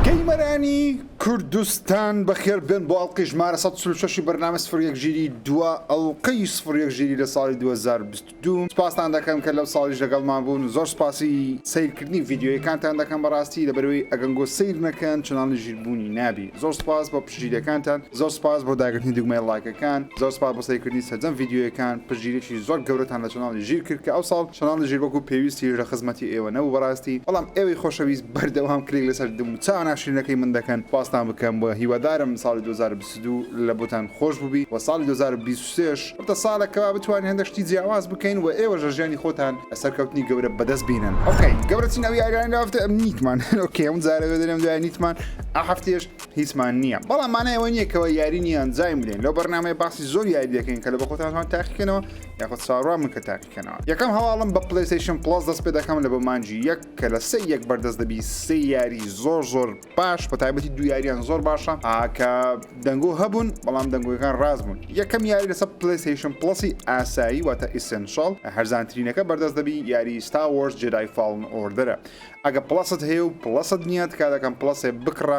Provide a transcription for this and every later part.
گەیمەرانی کوردستان بەخێر بێن بۆ ئەڵقەی ژمارە سەد و چل و شەش ی بەرنامەی سفر و یەک ژیری دوا ئەڵقەی سفر و یەک ژیری لە ساڵی دوو هەزار و بیست و دوو سپاستان دەکەم کە لەو ساڵیش لەگەڵمان بوون زۆر سپاسی سەیرکردنی ڤیدیۆیەکانتان دەکەم بەڕاستی لەبەرئەوەی ئەگەنگۆ سەیر نەکەن چەناڵی ژیر بوونی نابی زۆر سپاس بۆ پشتگیریەکانتان زۆر سپاس بۆ داگرتنی دوگمەی ڵایکەکان زۆر سپاس بۆ سەیرکردنی سەرجەم ڤیدیۆیەکان پشتگیریەکی زۆر گەورەتان لە چەناڵی ژیر کرد کە ئەوساڵ چەناڵی ژیر وەکو پێویست هیچ لە خزمەتی ئێوە نەبوو بەڕاستی بەڵام ئێوەی خۆشەویست بەردەوام کلک لەسەر دم و چاوە ناشرینەکەی من دەکەن سوپاستان بکەم وە هیوادارم ساڵی دوو هەزار و بیست و دوو لە بۆتان خۆش بوبی وە ساڵی دوو هەزار و بیست و سێ ش ببتە ساڵێک کەوا بتوانین هەندەک شتی جیاواز بکەین وە ئێوەش لە ژیانی خۆتان سەرکەوتنی گەورە بەدەست بینن ئۆکەی گەورەترین ئەو یاریانەی لە هەفتە ئەم نیتمان ئۆکەی هەموو جارە وێ دەنێم دوای نیتمان ئە هەفتەیەش هیچمان نیە بەڵام مانای ئەوە نیە کەوا یاری نیە ئەنجامی بدەین لەو بەرنامەیە باسی زۆر یاری دەکەین کە لە بەخۆتانتان تاقی کەنەوە یاخۆد چاوەڕوان بن کە تاقی بکەنەوە یەکەم هەواڵم بە پلەیستەیشن پڵەس دەست پێ دەکەم لە بۆ مانجی یەک کە لە سێ یەک بەردەست دەبی سێ یاری زۆر زۆر باش بە تایبەتی دو یاریان زۆر باشە ئاکە دەنگۆ هەبوون بەڵام دەنگۆیەکان ڕاست بوون یەکەم یاری لەسەر پلەیستەیشن پڵەسی ئاسایی واتە ئیسنشڵ هەرزانترینەکە بەردەست دەبی یاری ستا وۆرس جێدای فاڵن ئۆردەرە ئەگە پڵەست هەیە و پڵەست نییە تکا دەکەم پڵەسێ بکڕە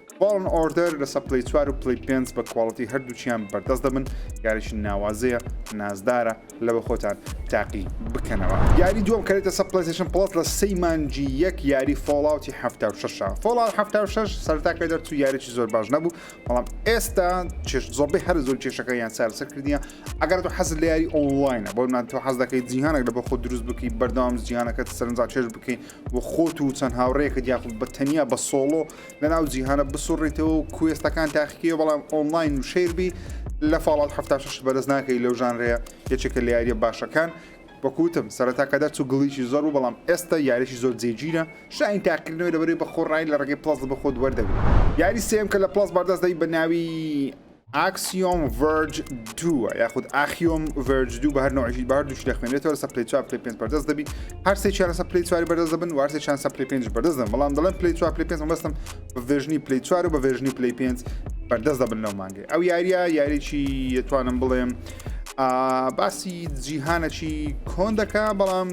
فاڵن ئۆردەر لەسەر پلەی چوار و پلەی پێنج بە کواڵیتی هەردووکیان بەردەست دەبن، یاریی ناوازەیە، نازدارە لەوە خۆتان تاقی بکەنەوە. یاری دووەم کە دێتە سەر پلەیستەیشن پڵەس لە سێی مانگی یەک یاری فۆڵاوتی حەفتا و شەش ە. فۆڵاوت حەفتا و شەش سەرەتا کە دەرچوو یاریی زۆر باش نەبوو، بەڵام ئێستا چێژ زۆربەی هەرە زۆری کێشەکانیان چارەسەر کردییە. ئەگەر تۆ حەزت لە یاری ئۆنڵاینە، بۆ نموونە تۆ حەز دەکەیت جیهانێک لەبەر خۆت دروست بکەیت، بەردەوام جیهانەکەت سەرنجڕاکێش بکەیت و خۆت و چەند هاوڕێکت یاخود بە تەنیا بە سۆڵۆ لە ناو جیهانە بسوڕیتەوە و کوێستەکان تاقیکەوە بەڵام ئۆنلاین و شەیربی لە فاڵات هەفتاشش بەرز ناکەی لەو ژانرەیە یەکێکە لە یاریە باشەکان وەکوتم سەرەتا کە دەرچوو گڵیشی زۆر بوو بەڵام ئێستا یاریشی زۆر جێگیرە شاین تاقیکردنەوەی لەبەرەی بە خۆڕایی لە ڕێگەی پڵەس بە خۆت وەردەگری یاری سێم کە لە پڵەس بەردەست دەبی بە ناوی ئاکسیۆم ڤەرج دووە یاخود ئاخیۆم ڤەرج دوو بە هەر نوعژی بار دووش دەخوێنێتەوە سە پلی چوار پلی پێنج بەردەست دەبی هەرسێ چیان سە پلی چواری بەردەست دەبن وارسێ چیان سە پلی پێنج بەردەست دەبن بەڵام دەڵێن پلی چوار پلی پێنج مەبەستم بە ڤێژنی پلی چوار و بە ڤێژنی پلی پێنج بەردەست دەبن لەو مانگێ ئەو یاریە یاریی دەتوانم بڵێم باسی جیهانەکی کۆن دەکە بەڵام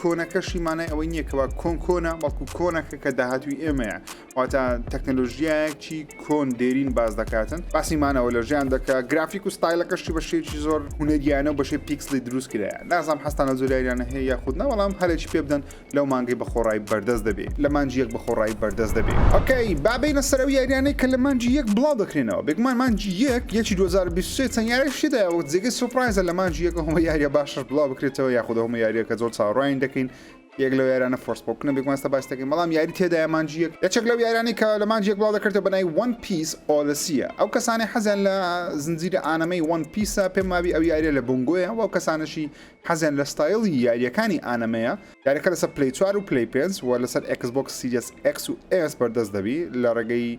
کۆنەکەشی مانای ئەوەی نییە کەوا کۆن کۆنە بەڵکو کۆنەکە کە داهاتوی ئێمەیە واتە تەکنەلۆژیایەکی کۆن دێرین باز دەکاتن باسی مانەوە لە ژیان دەکە گرافیک و ستایلەکەشی بە شێکی زۆر هوەریانە و بەشێ پیکسلی دروست کرا نازام هەستانە زۆریانە هەیە یاخود ناوەڵام هەرێکی پێ بدەن لەو مانگی بە خۆڕای بەردەست دەبێت لە مانجی یەک بە خۆڕای بەردەست دەبێت ئۆکەی بابینە سەرەوە یاریانەی کە لە مانجی یەک بڵاو دەکرێنەوە بێگومان مانجی یەک یەکی 2023 چەند یاریشیدا وەک جێگەی سوپرایزە لە مانجی یەکە هەمە یاریە باشش بڵاو بکرێتەوە یاخود هەمە یاریەکە زۆر چاڕوانی دەکەین یەک لەو یارانە فۆرسپۆکنە بێگومان ئێستا باس دەکەین بەڵام یاری تێدایە مانجی یەک یەکێک لەو یارانی کە لە مانجی یەک بڵاو دەکرێتەوە بە ناوی وەن پیس ئۆدسیە ئەو کەسانی حەزیان لە زنجیرە ئانەمەی وەن پیسە پێم وابی ئەو یاریە لە بنگۆیە و ئەو کەسانەشی حەزیان لە ستایڵی یاریەکانی ئانەمەیە یاریەکە لەسەر پلی 4 و پلی پێنج و لەسەر ئێکس بۆکس سیریەس ئێکس و ئێس بەردەست دەبی لە ڕێگەی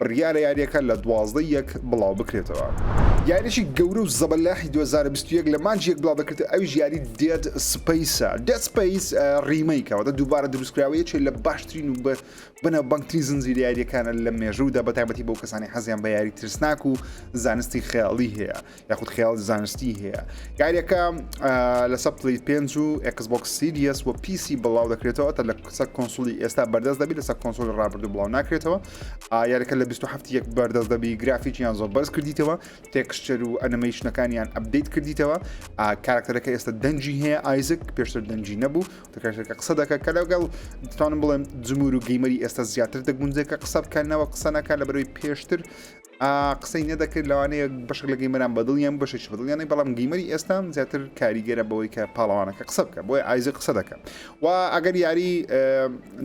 بڕیارە یارییەکە لە دوازدە ی یەک بڵاوبکرێتەوە. یارییەکی گەورە و زەبەلاحی دوو هەزار و بیست و یەک لە مانگی یەک بڵاودەکرێتەوە ئەویش یاری دێد سپەیسە. دێد سپەیس ڕیمەیکە واتە دووبارە دروستکراوە یەکێ لە باشترین و بەناوبانگترین زنجیرە یارییەکانە لە مێژوودا بەتایبەتی بۆ کەسانی حەزیان بە یاری ترسناک و زانستی خەیاڵی هەیە. یاخود خیاڵی زانستی هەیە یاریەکە لەسە پلی پێنج و ئەکسبک سیریەس و پیسی بڵاو دەکرێتەوە تا لە قسە کۆنسولی ئێستا بەردەست دەبی لەسەر کۆنسۆل ڕابردو بڵاو ناکرێتەوە یاریەکە لە 27 یەک بەردەست دەبی گرافیکیان زۆر بەرز کردیتەوە تێکشتەر و ئەنمەیشنەکانیان ئەبدەیت کردیتەوە کارکتەرەکە ئێستا دەنجی هەیە ئایزک پێشتر دەنجی نەبوو دەکارەکە قسە دەکە کە لەگەڵ دتانم بڵێن جمور و گەیمەری ئێستا زیاتر دەگونجێکە قسە بکەنەوە قسەنەکە لە بەروی پێشتر قسەی نەدەکرد لەوانەیە بەشک لە گەیمەران بەدڵیان بوو بەشێکی بەدڵیان نەی بەڵام گەیمەری ئێستا زیاتر کاریگەرە بەوەی کە پاڵەوانەکە قسە بکە بۆی ئایزە قسە دەکە و ئەگەر یاری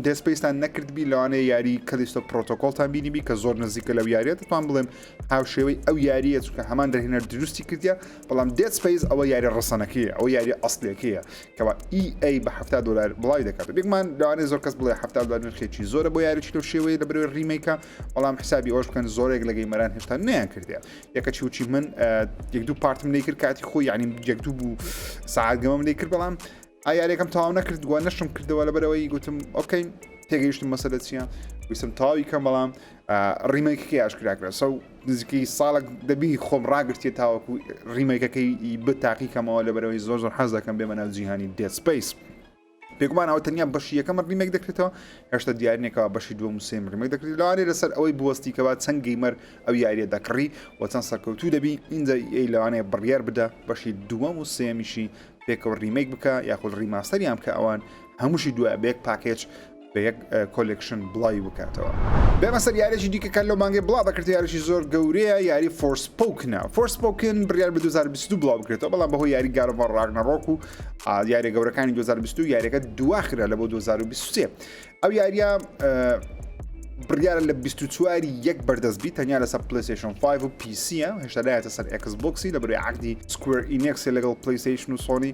دەسپیستان نەکردبی لەوانەیە یاری کەلیستۆ پرۆتۆکۆلتان بینیبی کە زۆر نزیکە لەو یاریە دەتوان بڵێم هاوشێوەی ئەو یاریە چونکە هەمان دەرهێنەر دروستی کردە بەڵام دەسپیس ئەوە یاری ڕسەنەکەیە ئەو یاری ئەسلەکەیە کەوا EA بە ه دلار بڵاوی دەکات بێکمان لەوانەیە زۆر کەس بڵێ ه دلار نرخێکی زۆرە بۆ یاریی لەو شێوەیە لە برەوەی ڕیمەیکە بەڵام حسابی ئەوش بکەن زۆرێک لە گەیمەران هێشتا نیان کردێ یەکەچی وچی من یەک دوو پارتم لی کرد کاتی خۆی یعنی یەک دوو بوو ساعتگەمەم لی کرد بەڵام ئایارێکم تاو نەکردووە نەشم کردەوە لە بەرەوەی گوتم ئۆکەین تێگەیشتم مەسەلە چییە ویسم تاوی کەم بەڵام ڕیمەکەکە یاشکراکرا سەو نزیکەی ساڵک دەبی خۆم ڕاگرتێ تاوەکو ڕیمەکەکەی بە تاقیکەمەوە لە بەرەوەی زۆر زۆر حەز دەکەم بێمە ناو جیهانی دێسپیس. بێگومان ئەوە تەنیا بەشی یەکەم ڕیمێک دەکرێتەوە هێشتا دیار نییە کەوا بەشی دووەم و سێم ڕیمێک دەکرێت لەوانەیە لەسەر ئەوەی بوەستی کەوا چەند گەیمەر ئەو یارییە دەکڕی و چەند سەرکەوتوو دەبی ئینجا ئێی لەوانەیە بڕیار بدە بەشی دووەم و سێمیشی پێکەوە ڕیمێک بکە یاخود ڕیماستەریان بکە ئەوان هەمووشی دوایە بە یەک پاکێج بە یەک کۆلێکشن بڵاوی بکاتەوە. بێمە سەر یاریەکی دیکە کە لەو مانگەی بڵاو دەکرێتەوە یاریەکی زۆر گەورەیە یاری فۆرسپۆکنە فۆرسپۆکن بڕیار بە 2022 بڵاو بکرێتەوە بەڵام بەهۆی یاری گاد ئۆف وار ڕاگنەڕۆک و یاریە گەورەکانی 2022 یاریەکە دواخرا لە بۆ 2023 ئەو یاریە بڕیارە لە 24 یەک بەردەست بی تەنیا لەسەر پلیسیشن 5 و پیسیە هێشتا لایەتە سەر ئەکس بۆکسی لە بەروی عقدی سکوێر ئینێکسی لەگەڵ پلیسیشن و سۆنی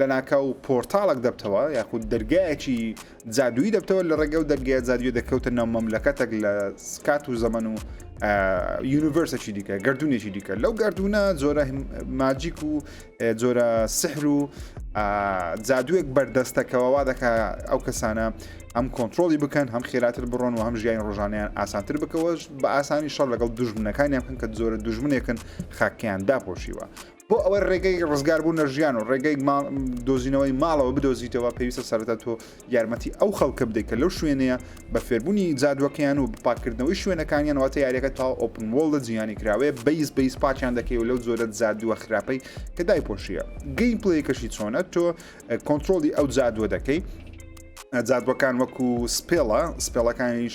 لەناکاو پۆرتاڵەک دەبتەوە یاخود دەرگایەکی جادووی دەبتەوە لە ڕێگەو دەرگای جادووی دەکەوتە ناو مەملەکەتەک لە سکات و زەمن و یونیڤرسەکی دیکە گردردونێکی دیکە لەو گردردونە جۆرە ماجیک و جۆرە سحر و جادووێک بەردەستەکەەوەوا دەکە ئەو کەسانە ئەم کۆنتترۆلی بکەن هەم خێراتر بڕۆن و هەم ژیانی ڕۆژانیان ئاسانتر بکەوەش بە ئاسانی شەڕ لەگەڵ دژمنەکانیان بکەن کە جۆرە دژمنێکن خاکیان داپۆشیوە بۆ ئەوەی ڕێگەی ڕزگار بوو نەژیان و ڕێگەی دۆزینەوەی ماڵەوە بدۆزیتەوە پێویستە سەرەتا تۆ یارمەتی ئەو خەڵکە بدەیت کە لەو شوێنەیە بە فێربوونی جادوەکەیان و بپاکردنەوەی شوێنەکانیان واتە یاریەکە تا ئۆپن وڵدە جیهانی کراوەیە بەیس بەیس پاچیان دەکەی و لەو جۆرە جادووە خراپەی کە دای پۆشیە گەیم پلی کەشی چۆنە تۆ کۆنتترۆلی ئەو جادووە دەکەی جادوەکان وەکو سپێڵە سپێڵەکانیش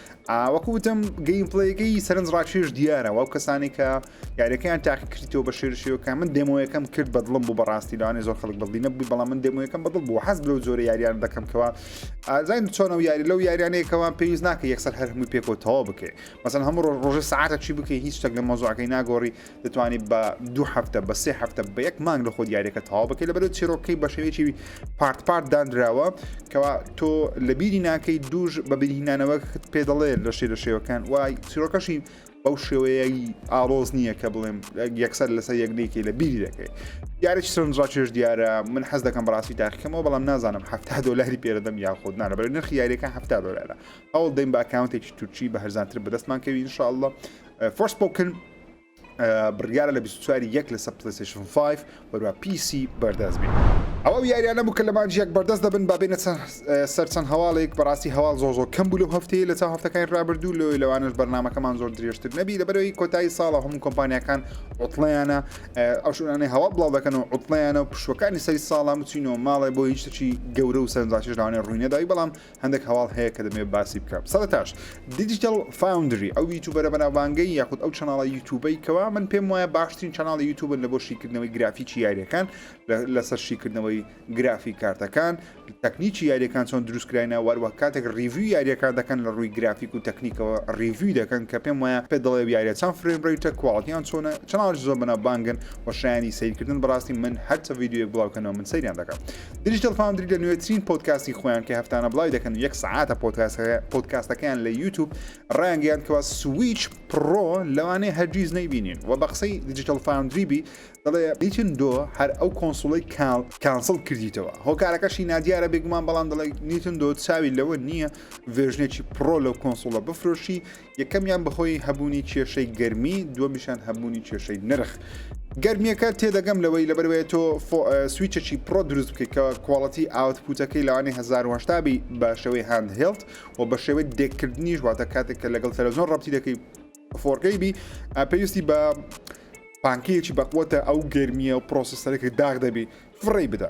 وەکو وتم گەیم پلەیەکەی سەرنج ڕاکێش دیارە وەو کەسانی کە یاریەکەیان تاقی کردیتەوە بە شێرشیەکە من دەمەوەیەکەم کرد بەدڵم بوو بەڕاستی لەوانێ زۆر خەڵک بەڵی نەبووی بەڵام من دەمەوەیەکەم بەدڵ بوو حەز لەو زۆرە یاریان دەکەمکەوە ئازاین چۆنە و یاری لەو یاریانەیەکەوان پێویست ناکە یەکسەر هەر هەمووی پێکەوە تەواو بکەێ مەسەن هەموو ڕۆژ ڕۆژە ساعتە چی بکەی هیچ شتێک لە مۆزۆعەکەی ناگۆڕی دەتوانیت بە دوو هەفتە بە سێ هەفتە بە یەک مانگ لە خۆ دیارەکە تەواو بکەیت لەبەر چیرۆکەکەی بە شێوەیەکی پارت پارت دانراوە کەوا تۆ لە بیری ناکەی دووش بە بیرهینانەوە پێ دەڵێ لە شێ لە شێوەکان وای چیرۆکەشی بەو شێوەیەی ئاڵۆز نییە کە بڵێم یەکسەر لەسەر یەکنێکی لە بیری دەکەی دیارێک سنجڕا چێش دیارە من حەز دەکەم بەڕاستی تاقیکەمەوە بەڵام نازانم ه دلاری پێدەم یاخود نانە بەر نرخ یاریەکە ه دلارە ئەو دەیم باکاونتێکی تورکی بە هەرزانتر بەدەستمان کەوی انشاءله فۆرسپۆکن بڕیارە لە بیست و چوار ی یەک لەسەر پلەیستەیشن فایڤ و هەروە پی سی بەردەست بێت. ئەوە ئەو یاریانە بوو کە لە مانگی یەک بەردەست دەبن با بێینە سەر چەند هەواڵێک بەڕاستی هەواڵ زۆر زۆر کەم بوو لەو هەفتەیە لە چاو هەفتەکانی رابردوو لەوەی لەوانەش بەرنامەکەمان زۆر درێژتر نەبی لەبەرەوەی کۆتایی ساڵە هەموو کۆمپانیاکان عوتڵەیانە ئەو شوێنانەی هەواڵ بڵاو دەکەن و عوتڵەیانە و پشوەکانی سەری ساڵە بچینەوە ماڵێ بۆ هیچ شتێکی گەورە و سەرنجڕاکێش لەوانەیە رووی نەدای بەڵام هەندێک هەواڵ هەیە کە دەمەوێت باسی بکەم سەرتاش دیجیتل فاوندری ئەو یوتوبەرە بەناوبانگەی یاخود ئەو چناڵە یوتوبەی کەوا من پێم وایە باشترین چناڵی یوتوبن لە بۆ شیکردنەوەی گرافیکی یاریەکان لەسەر شیکردنەوەی گرافی کارتەکان تەکنیکی یاریەکان چۆن دروستکراینە وەروە کاتێک ریڤوی یاریەکان دەکەن لە ڕووی گرافیک و تەکنیکەوە ریڤوی دەکەن کە پێم وایە پێ دەڵێ یاریە چەند فرێم ڕیتە کوواڵتیان چۆنە چناڵ زۆر بەناوبانگن و شایانی سیرکردن بەڕاستی من هەرچە یددیوەک بڵاوکەنەوە من سەیران دەکەم دیجیتەل فاندری لە نوێترین پۆتکاستی خۆیان کە هەفتانە بڵاوی دەکەن و یەک سعاتە پۆتکاستەکەیان لە یوتوب ڕانگەیان کەوا سویچ پڕۆ لەوانەیە هەرگیز نەیبینین و بە قسەی دیجیتەل فاندری بی دەڵێ نیتن دۆ هەر ئەو کۆنسوڵی کانسڵ کردیتەوە هۆکارەکەشی نادیارە بێگومان بەڵام دەڵێ نیتن دۆ چاوی لەوە نییە ڤێژنێکی پڕۆ لەو کۆنسوڵە بفرۆشی یەکەمیان بەهۆی هەبوونی کێشەی گەرمی دووەمیشان هەبوونی کێشەی نرخ گەرمیەکە تێدەگەم لەوەی لەبەروەیە تۆ سویچەکی پرۆ دروست بکەیت کە کوواڵەتی ئاوتپوتەکەی لەوانی 1970 بی بە شێوەی هاند هێڵت و بە شێوەی دێککردنیش واتە کاتێک کە لەگەڵ تەلەزۆن ڕەتی دەکەی فۆرگەی بی پێویستی بە پانکەیەکی بەقوتە ئەو گەرمیە و پرۆسیسەرێکی داغ دەبی فڕی بدە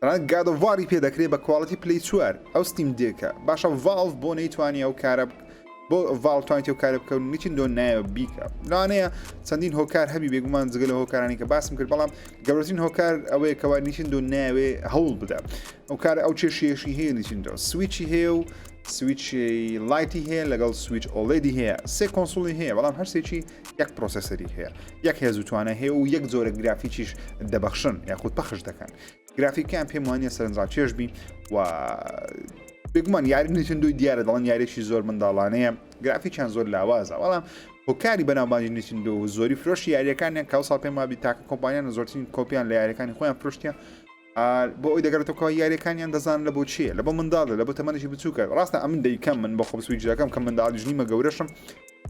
تەنانەت گاد ئۆف واری پێ دەکرێ بە کواڵیتی پلەی چوار ئەو ستیم دێکە باشە ڤاڵڤ بۆ نەیتوانی ئەو کارە بۆ ڤاڵ توانیت ئەو کارە بکەون نیچین دۆن نایە بیکە لەوانەیە چەندین هۆکار هەبی بێگومان جگە لە هۆکارانی کە باسم کرد بەڵام گەورەترین هۆکار ئەوەیە کەوا نیچین دۆن ناوێ هەوڵ بدە ئەو کار ئەو چێشیەشی هەیە نیچین دۆ سویچی هەیە و سویچ لایتی هەیە لەگەڵ سویچ ئۆڵێدی هەیە سێ کۆنسوڵی هەیە بەڵام هەرسێکی یەک پرۆسسەری هەیە یەک هێزوتوانە هەیە و یەک جۆرە گرافیکیش دەبەخشن یاخود پەخش دەکەن گرافیکیان پێم وانە سەرنجڕاکێش بین و بگومان یاری نیتندوی دیارە دەڵن یاریێکی زۆر منداڵانەیە گرافیکیان زۆر لاوازە بەڵام هۆکاری بەناوبانجی نیتندو و زۆری فرۆشی یاریەکانیان کاوسا پێم وابی تاکە کۆمپانیان زۆرترین کۆپیان لە یاریەکانی خۆیان فرشتە بۆ ئەوی دەگەرێتەوە یاریەکانیان دەزان لە بۆ چیە لە بۆ منداڵە لە بۆ تەمەنێکی بچووکە ڕاستە ئەمن دەیکەم من بە خۆبسوی جاکەم کە منداڵ ژنیمە گەورەشم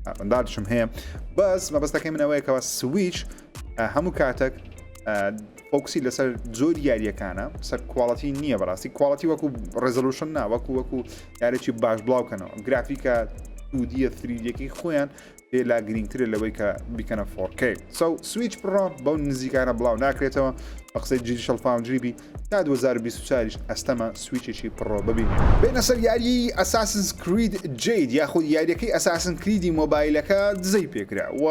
ئەڤندارشم هەیە بەس مەبەستەکەی من ئەوەیە کەەوە سویچ هەموو کاتەک فۆکسی لەسەر زۆر یاریەکانە سەر کوواڵەتی نییە بەڕاستی کوواڵەتی وەکو ڕێزلوشن نا وەکو وەکو یارێکی باش بڵاوکەنەوە گرافیکە دوودیە فریدەکەی خۆیان پێ لا گرنگترە لەوەی کە بکەنە فۆرکەی سو سویچ بڕۆ بەو نزیکانە بڵاو ناکرێتەوە بە قسەی جیری شەڵفاونجری بی تا دوو هەزار و بیست و چوار یش ئەستەمە سویچێکی پڕۆ ببینین. بێنە سەر یاریی ئەساسنس کرید جەید یاخود یاریەکەی ئەساسن کریدی مۆبایلەکە دزەی پێکرا و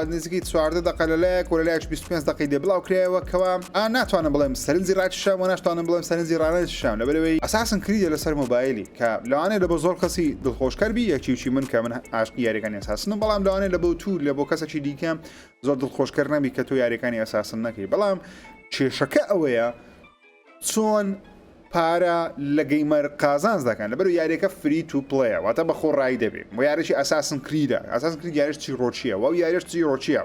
نزیکەی چواردە دەقە لە لایەک و لە لایەکش بیست و پێنج دەقەی لێ بڵاو کرایەوە کەوا ئا ناتوانم بڵێم سەرنجی ڕاکیشام و ناشتوانم بڵێم سەرنجی ڕانەکیشام لەبەرئەوەی ئەساسن کریدە لەسەر مۆبایلی کە لەوانەیە لەبۆ زۆر کەسی دڵخۆش کەر بی یەکچی وچی من کە من ئاشقی یاریەکانی ئەساسنم بەڵام لەوانەیە لەبۆ تو لەبۆ کەسەکی دیکە زۆر دڵخۆش کەر نەبی کە تۆ یاریەکانی ئەساسن نەکەی بەڵام کێشەکە ئەوەیە چۆن پارە لە گەیمەر قازانز دەکەن لەبەر یاریەکە فری تو پڵەیە واتە بە خۆڕایی دەبێت و یارێکی ئەساسن کریدە ئەساس کرد یارش چی ڕۆچیە و یارش چی ڕۆچیە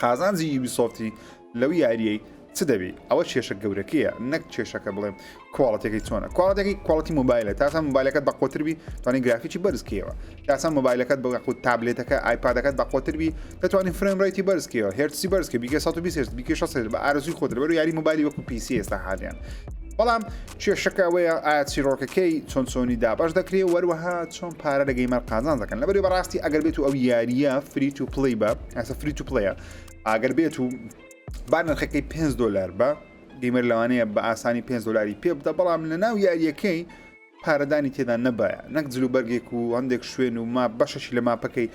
قازانجی یوبیسۆفتی لەو یاریەی چ دەبی ئەوە کێشە گەورەکەیە نەک کێشەکە بڵێم کوالتیەکەی چۆنە کوالتەکەی کوالتی مۆبایلە تاسان مۆبایلەکەت بەقۆتربی توانانی گرافیکی بەرزکەوە تاسان مۆبایلەکەت بەگەخ و تابلێتەکە ئایپادەکەت بەقۆتربی دەتوانین فرێن ڕێتی بەرزکەوە هێرسی بەرزکە بیگە 120 بیکە 6 بە ئارزوی خۆت لەبەر یاری مۆبایلی وەکو پیسی ئێستا حالیان بەڵام کێشەکە ئەوەیە ئایا چیرۆکەکەی چۆن چۆنی دابش دەکرێ وەروەها چۆن پارە لە گەیمەر قازان دەکەن لەبەری بەڕاستی ئەگەر بێت و ئەو یاریە فریت و پلی بە ئەسە فریت و پلیە ئاگەر بێت و با نرخەکەی 5 دلار بە گەیمەر لەوانەیە بە ئاسانی پێنج دلاری پێ بدە بەڵام لە ناو یاریەکەی پارەدانی تێدا نەبایە نەک جلو بەرگێک و هەندێک شوێن و ما بەشەشی لە ماپەکەی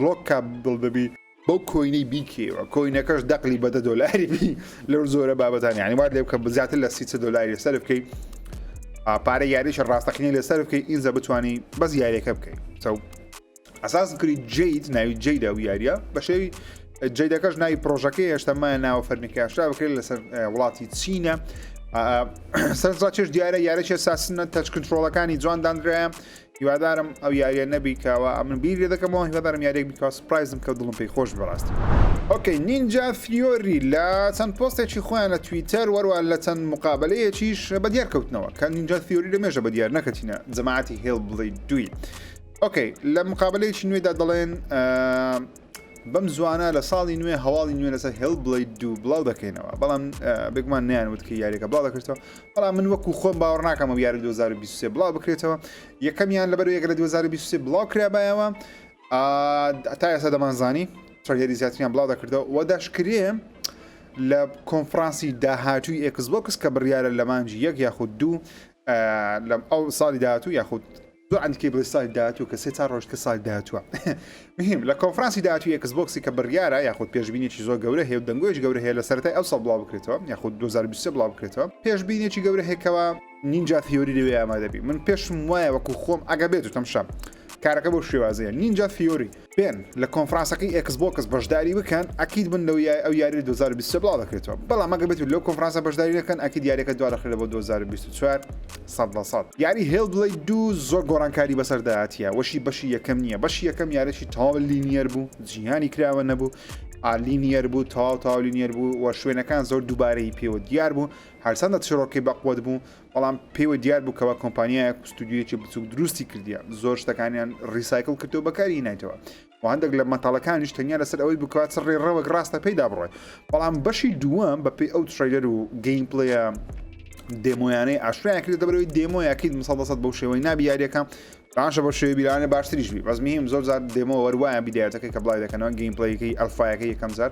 لۆکا دڵ دەبی بەو کۆینەی بیکەوە کۆینەکەش دەقلی بەدە دۆلاری بی لەو زۆرە بابەتان یعنی وات لێ بکە بزیاتر لە سیچە دۆلاری سەر بکەی پارە یاریش ڕاستەقینی لە سەر بکەی ئینجا بتانی بەس یاریەکە بکەی چاو ئەساس کری جیت ناوی جیدا و یاریە بەشێوی جیدەکەش ناوی پرۆژەکەی هێشتەمایە ناوە فەرمیکاشرا بکرێت لەسەر وڵاتی چینە سەرزا چێش دیارە یارەشە ساسنە تەچ کنترۆڵەکانی جوان دانراە هیوادارم ئەو یاریە نەبیکەوە ئەمن بیر لێ دەکەمەوە هیوادارم یارێک بکە سپایزم کە دڵم پێی خۆش بەڕاستی ئۆکەی نینجا فیۆری لە چەند پۆستێکی خۆیان لە تویتەر وەروە لە چەند مقابلەیەکیش بە دیار کەوتنەوە کە نینجا فیۆری لە مێژە بە دیار نەکەتینە جەماعەتی هێڵ بڵی دوی ئۆکەی لە مقابلەیەکی نوێدا دەڵێن بەم زوانە لە ساڵی نوێ هەواڵی نوێ لەسەر هێڵ بڵی دوو بڵاو دەکەینەوە بەڵام بێگومان نیان وتکە یاریەکە بڵاو دەکرێتەوە بەڵام من وەکو خۆم باوەڕ ناکەم و یاری 2023 بڵاو بکرێتەوە یەکەمیان لەبەر یەکە لە 2023 بڵاو کرابایەوە تا ئێستا دەمانزانی تڕگەری زیاتریان بڵاو دەکردەوە وە داشکرێ لە کۆنفرانسی داهاتووی ئێکس بۆکس کە بڕیاە لە مانجی یەک یاخود دوو لەم ئەو ساڵی داهاتوو یاخود دوو عەند کەی بڵێ ساڵی داهاتوو کە سێ چار ڕۆژ کە ساڵی داهاتووە مهم لە کۆنفرانسی داهاتووی ئێکس بۆکسی کە بڕیارە یاخود پێشبینێکی زۆر گەورە هەیە و دەنگۆیش گەورە هەیە لە سەرەتای ئەوساڵ بڵاو بکرێتەوە یاخود 2023 بڵاو بکرێتەوە پێشبینێکی گەورە هەیە کەوا نینجا ثیۆری لەوێ ئامادەبی من پێشم وایە وەکو خۆم ئەگە بێت و تەمشا کارەکە بەو شێوازەیە نینجا ثیۆری بێن لە کۆنفرانسەکەی ئێکس بۆکس بەشداری بکەن ئەکید بن لەو یای ئەو یاری 2023 بڵاو دەکرێتەوە بەڵام ئەگەر بێت لەو کۆنفرانسە بەشداری نەکەن ئەکید یاریەکە دوا دەخرێت بۆ 2024 سەد لە سەد یاری هێڵ بڵی دوو زۆر گۆڕانکاری بەسەردایەتە وەشی بەشی یەکەم نییە بەشی یەکەم یارێکی تاو لینیەر بوو جیهانی کراوە نەبوو ئالینیەر بوو تاو تاولینیەر بوو و شوێنەکان زۆر دووبارەی پێوە دیار بوو هەرچەندە چرۆکی بەقوت بوو بەڵام پێیوە دیار بوو کەوا کۆمپانیایەک و ستودیۆیەکی بچووک دروستی کردیە زۆر شتەکانیان ڕیسایکل کردو بەکاری نایتەوە و هەندێک لە مەتاڵەکانیش تەنیا لەسەر ئەوەی بکات چ ڕێڕەوەک ڕاستە پێیدا بڕێ بەڵام بەشی دووەم بەپی ئەو تریلەر و گەیم پلیە دێمۆیانەی ئاشرایان کرد دەبەرەوەی دێمۆیەکەیت مسەڵ دەسەد بەو شێوەی نابی یاریەکە باشە بۆ شێوی بیرانە باشتریش بی بەزمیم زۆر زار دێمۆ وەروایە بیدایەتەکەی کە بڵای دەکەنەوە گەیم پلیەکەی ئەلفاایەکە یەکەم زار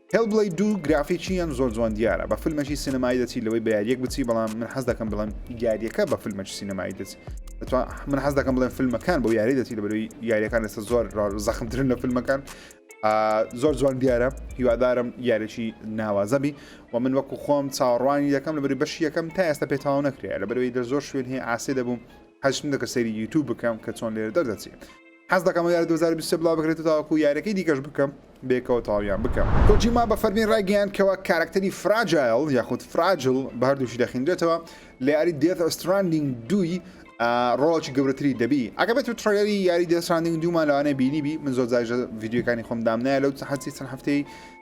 Hellblade دوو گرافیکی یان زۆر جوان دیارە بە فلمەکی سینەمایی دەچی لەوەی بە یاریەک بچی بەڵام من حەز دەکەم بڵێم یاریەکە بە فلمەکی سینەمایی دەچی دەتوا من حەز دەکەم بڵێن فیلمەکان بۆ یاری دەچی لە بەروی یاریەکان لەسە زۆر زەخمترن لە فیلمەکان زۆر جوان دیارە هیوادارم یارێکی ناوازەبی و من وەکو خۆم چاڕوانی یەکەم لە بەری بەش یەکەم تا ئێستا پێتاو نەکرێ لە بەروی لە زۆر شوێن هەیە ئاسێ دەبووم هەشم دەکە سەری یوتوب بکەم کە چۆن لێرە دەردەچێت حەز دەکەم ئەو یارە دوو هەزار و بیست و سێ بڵاوبکرێت و تاوەکو یاریەکەی دیکەش بکەم بەیەکەوە تەواویان بکەم. کۆجیما بە فەرمی ڕایگەیاند کەوا کارەکتەری فراجایڵ یاخود فراجل بە هەردووکی دەخینرێتەوە لە یاری دێث ئەستراندینگ دووی ڕۆڵێکی گەورەتری دەبی ئەگەر بێتو تڕەیلەری یاری دێث ستراندینگ دوومان لەوانەیە بینیبی من زۆر جاریش ڤیدیۆکانی خۆم دامنایە لەو حەسی چەند هەفتەی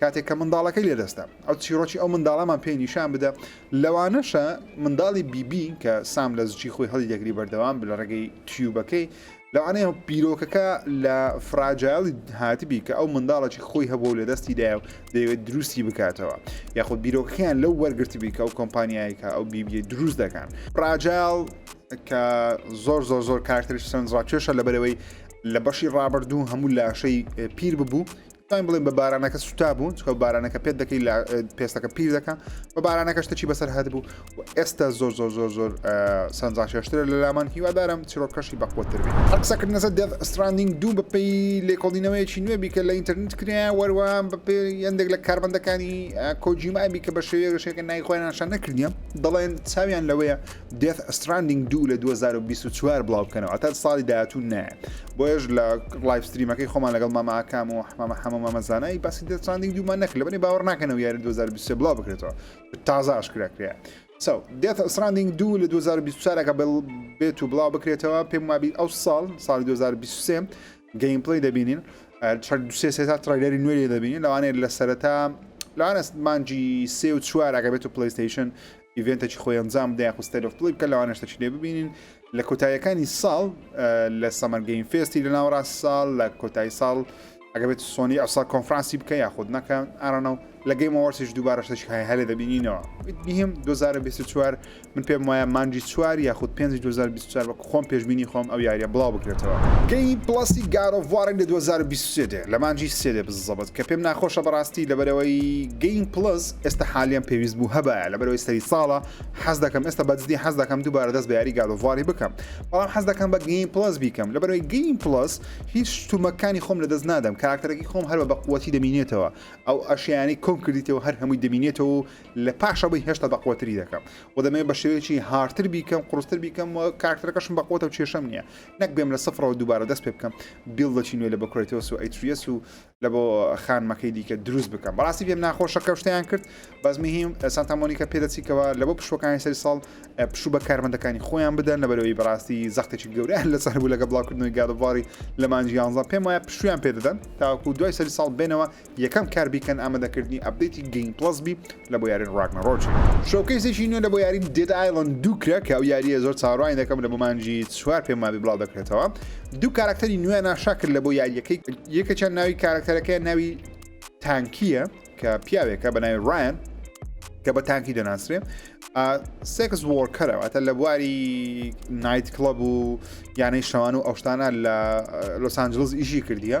کاتێک کە منداڵەکەی لەدەستدا، ئەو چیڕۆکی ئەو منداڵەمان پێی نیشان بدە، لەوانەشە منداڵی بیبی کە سام لە زچی خۆی هەڵی دەگری بەردەوام بە لە ڕێگەی تیوبەکەی، لەوانەیە بیرۆکەکە لە فراجایڵی هاتبی کە ئەو منداڵەکی خۆی هەبووە و لەدەستی دایە و دەیەوێت دروستی بکاتەوە، یاخود بیرۆکەکەیان لەو وەرگرتبی کە ئەو کۆمپانیایەی کە ئەو بیبیەی دروست دەکان. فراجایڵ کە زۆر زۆر زۆر کارکتەریش سەرنجڕاکێشە لەبەرئەوەی لە بەشی ڕابردوو هەموو لاشەی پیر ببوو، دەتوانین بڵێن بە بارانەکە سوتا بوون چکە بارانەکە پێت دەکەی لە پێستەکە پیر دەکە بە بارانەکە شتەکی بەسەر هەت بوو و ئێستا زۆر زۆر زۆر زۆر سەنجا شێشترە لە لامان هیوادارم چیرۆکەشی بەقوتر بێت قسەکردنەسە دێت ستراندینگ دوو بەپی لێکۆڵینەوەیەکی نوێ بیکە لە ئینتەرنت کرا وەروان بەپی هەندێک لە کاربندەکانی کۆجیمابی کە بە شێوەیەگەشێکە نایخۆیان شە نەکردیان دەڵێن چاویان لەوەیە Death Stranding 2 لە 2024 بڵاو بکەنەوە تا ساڵی داهاتوو نایە بۆیش لە لایف ستریمەکەی خۆمان لەگەڵ مامە ئاکام و مامە حەمە مامەزانایی باسی Death Stranding دوومان نەکرد لەبەری باوەڕ ناکەنەوە یاری 2023 بڵاو بکرێتەوە تازە ئاشکرا کرێ سو Death Stranding 2 لە 2024ەکە بڵ بێت و بڵاو بکرێتەوە پێم وابی ئەو ساڵ ساڵی 2023 گەیمپلی دەبینین دوسێ سێتا تڕیلەری نوێری دەبینین لەوانەیە لە سەرەتا لەوانە مانجی سێ و چوارەکە بێت و پلیستیشن ئیڤێنتەکی خۆی ئەنجام بدە یاخود ستەیل ئۆف پلی بکە لەوانەش تەچینێ ببینین لە کۆتاییەکانی ساڵ لە سەمەر گەیم فێستی لە ناوەڕاست ساڵ لە کۆتایی ساڵ ئەگە بێت سۆنی ئەسا کۆنفرانسی بکە یاخود نەکە ئارانە و لە گەیم ئەوەرسیش دووبارەشتەش هەیە هەلێ دەبینینەوە بهم 2024 من پێم وایە مانجی چوار یاخود 5 2024 بە خۆم پێشبینی خۆم ئەو یاریە بڵاو بکرێتەوە. گەیم پڵەسی گاد ئۆف واڕی لە دوو هەزار و بیست و سێ دێ لە مانگی سێ دێ بززەبت کە پێم ناخۆشە بەڕاستی لەبەرئەوەی گەیم پڵەس ئێستا حالیەن پێویست بوو هەبایە لەبەرئەوەی سەری ساڵە حەز دەکەم ئێستا بەجدی حەز دەکەم دووبارە دەست بە یاری گاد ئۆف واڕی بکەم بەڵام حەز دەکەم بە گەیم پڵەس بیکەم لەبەرئەوەی گەیم پڵەس هیچ شتومەکانی خۆم لە دەست نادەم کاراکتەرەکەی خۆم هەر بە بەقوەتی دەمینێتەوە ئەو ئەشیانەی کۆم کردیتەوە هەر هەمووی دەمینێتەوە و لە پاش ئەوەی هێشتا بەقوەتری دەکەم و دەمەوێت بە شێوەیەکی هارتر بیکەم قڕستر بیکەم و کارکتەرەکەشم بەقوەتە و کێشەم نییە نەک بێم لە سفرەوە دووبارە دەست پێ بکەم بیڵدەچی نوێ لە بە کرێتۆس و ئەیتریەس و لە بۆ خانمەکەی دیکە دروست بکەم بەڕاستی پێم ناخۆشە کەشتیان کرد بەس مهم سانتامۆنیکە پێدەچیکەوە لە بۆ پشوەکانی سەری ساڵ پشوو بە کارمەندەکانی خۆیان بدەن لەبەرەوەی بەڕاستی زەختێکی گەوریان لەسەر بوو لەگە بڵاوکردنەوەی گادباری لە مانجی یانزان پێم وایە پشویان پێدەدەن تاکو دوای سەری ساڵ بێنەوە یەکەم کار بیکەن ئامادەکردنی ئەپدەیتی گەیم پڵەس بی لە بۆ یارین ڕاگنەڕۆکی. شۆکەیسێکی نوێ لە بۆ یارین دێد ئایڵەند دوو کرا کە ئەو یارییە زۆر چاوەڕوانی دەکەم لە بۆ مانگی چوار پێم وابی بڵاو دەکرێتەوە دوو کارەکتەری نوێیان ئاشا کرد لە بۆ یارییەکەی یەکێکیان ناوی کارەکتەرەکەیان ناوی تانکیە کە پیاوێکە بە ناوی ڕایان کە بە تانکی دەناسرێ سێکس وۆرکەرەوەتە لە بواری نایت کلب و یانەی شەوان و ئەوشتانە لە لۆسانجلز ئیشی کردیە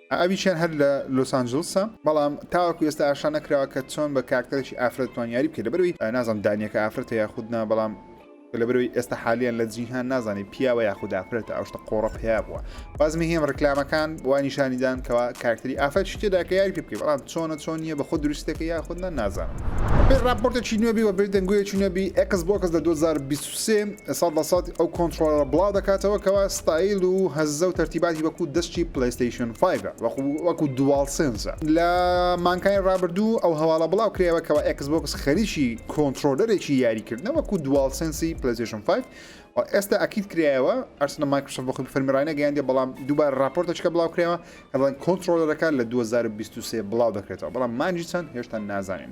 ئەویشیان هەر لە لۆس ئانجلسە بەڵام تاوەکو ئێستا ئاشکرا نەکراوە کە چۆن بە کارکتەرێکی ئافرەت دەتوان یاری بکەی لەبەرەوەی نازانم دانیەکە ئافرەتە یاخود نا بەڵام لەبەرەوەی ئێستا حالیان لە جیهان نازانێت پیاوە یاخود ئافرەتە ئەوشتە قۆڕە پیا بووە بازمی هێم ڕکلامەکان وانیشانیدان کەوا کارکتری ئافرەت شتێدا کە یاری پێ بکەی بەڵام چۆنە چۆن نیە بە خۆ دروستەکە یاخود نە نازانم بێ ڕاپۆرتێکی نوێبی و بێ دەنگویەکی نوێبی ئەکس بۆکس لە 2020 سێ، سەد لە سەد ئەو کۆنترۆڵەرە بڵاو دەکاتەوە کەوا ستایل و هەزە و تەرتیباتی وەکو دەستی پلەیستەیشن فایڤە وەکو وەکو دوال سێنسە لە مانکانی ڕابردوو ئەو هەواڵە بڵاو کرایەوە کەوا ئێکس بۆکس خەریکی کۆنترۆلەرێکی یاری کردنە وەکو دوال سێنسی پلەیستەیشن فایڤ و ئێستا ئەکید کرایەوە ئەرسنە مایکرۆسۆفت بە خۆی فەرمی ڕاینەگەیاندیە بەڵام دووبارە ڕاپۆرتەچکە بڵاو کرایەوە کە بڵێن کۆنترۆلەرەکە لە دوو هەزار و بیست و سێ بڵاو دەکرێتەوە بەڵام مانجی چەند هێشتا نازانین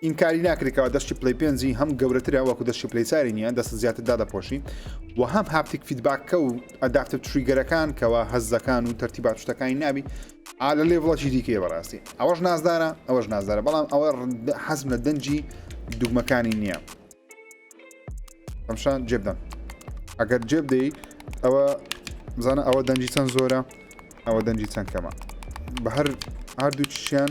ئینکاری ناکری کەوا دەستی پلەی پێنجی هەم گەورەترە وەکو دەستی پلەی چاری نیە دەست زیاتر دادەپۆشی و هەم هاپتیک فیدباککە و ئەدافتە تریگەرەکان کەوا هەزەکان و تەرتی باشتەکانی نابی ئالە لێ بڵەکی دیکەی بەڕاستی ئەوەش نازدارە ئەوەش نازدارە بەڵام ئەوە حەزم لە دەنجی دوگمەکانی نییە ئەمشان جێبدەم ئەگەر جێبدەی ئەوە بزانە ئەوە دەنجی چەند زۆرە ئەوە دەنجی چەند کەمە بە هەر هەردوو چیان